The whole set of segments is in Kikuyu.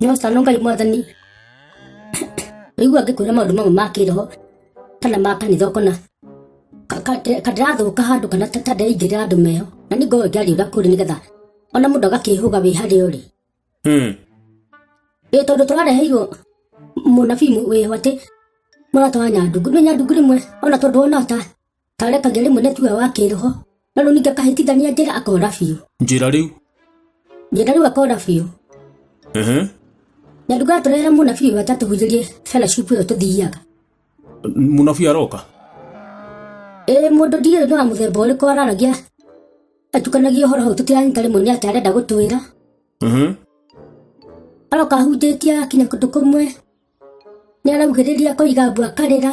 nyoca no ngai mwathani rĩigua ngĩkwĩra maũndũ mamwe ma kĩroho kana ma kanitha ũkona kandĩrathũka handũ kana tandaingĩrĩra andũ meho na nĩ ngorwo ngĩariũra kũrĩ nĩgetha ona mũndũ agakĩhũga wĩ harĩa ũrĩ hmm. ĩ tondũ tũrareheirwo mũnabii wĩho atĩ mũratwara nyandungu nĩ nyandungu rĩmwe ona tondũ wona ta Tareka ngĩrĩ mwene tuwe wa kĩroho. Na rĩu ningĩ akahĩtithania njĩra akora biũ. njĩra rĩu Njĩra rĩu akora biũ. ehe Na nduga atũrehera mũnabii wake atũhunjĩrie fellowship ĩyo tũthiaga. mũnabii aroka Ĩĩ mũndũ ndiũĩ nĩ wa mũthemba ũrĩkũ araragia atukanagia ũhoro hau tũtiranyita rĩmwe nĩ atĩ arenda gũtwĩra. ehe Aroka ahunjĩtie akinya kũndũ kũmwe. Nĩ araugĩrĩria akoiga mbu akarĩra.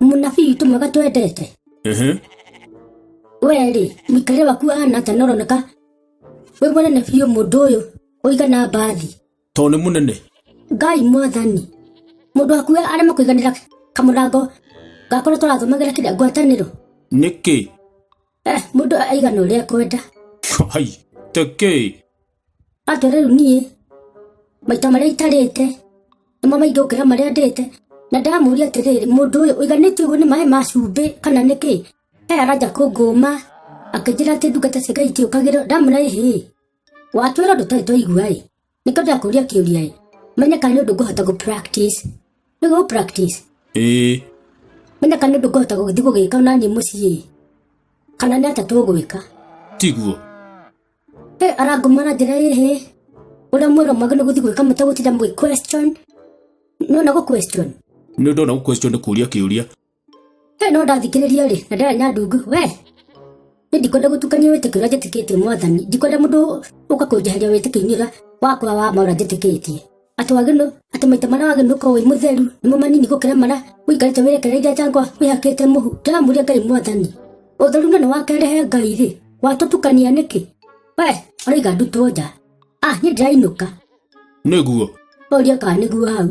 mũnabii witũ mwega twendete Mhm. wee-rĩ mũikarĩre waku ahana atĩa na ũroneka wĩ mũnene biũ mũndũ ũyũ ũigana mbathi tondũ nĩ mũnene ngai mwathani mũndũ waku we arema kũiganĩra kamũrango gakorwo tũrathomagĩra kĩrĩa ngwatanĩro nĩkĩ Eh, mũndũ aigana ũrĩa kwenda hai tekĩ Atĩ rĩu niĩ maita marĩa itarĩte nĩmo maingĩ gũkĩra marĩa ndĩte na ndamũria atĩrĩrĩ mũndũ ũyũ ũiganĩtio ũguo nĩ maĩ ma cumbĩ kana nĩ kĩ aya aranja kũngũma akĩnjĩra atĩ ndungata cia ngai itiũkagĩrwo ndamũra ĩhĩ watwĩra ũndũ tũtarĩ twaigua ĩ nĩkĩo ndakũria kĩũria ĩ menye kana nĩ ũndũ ngũhota gũ practice nĩguo gũ practice ĩĩ menye kana nĩ ũndũ ngũhota gũgĩthiĩ gũgĩka ona niĩ mũciĩ ĩ kana nĩ atĩa tũgwĩka tiguo Hey, arangomana njĩra ĩhĩ ũrĩa mwĩra mwagĩ nĩ gũthiĩ gwĩka mũtagũtinda mũgĩ question no na gũ question nä ndona gå question nä kå ria kä å ria Hey, no ndathikĩrĩria rĩ na ndĩra nyandungu we nĩ ndikwenda gũtukania wĩtĩkio ũrĩa njĩtĩkĩtie mwathani ndikwenda mũndũ ũka kũnjeheria wĩtĩkio-inĩ ũrĩa wakwa wa ma ũrĩa njĩtĩkĩtie atĩ wagĩrĩirwo atĩ maita marĩa wagĩrĩirwo gũkorwo wĩ mũtheru nĩmo manini gũkĩra marĩa ũikarĩte wĩrekereirie njangwa wĩhakĩte mũhu ndĩramũria ngai mwathani ũtheru na nĩwakerehe ngai rĩ watũtukania nĩkĩ we ũraiga ndutwo nja ah niĩ ndĩrainũka nĩguo ũria kana nĩguo hau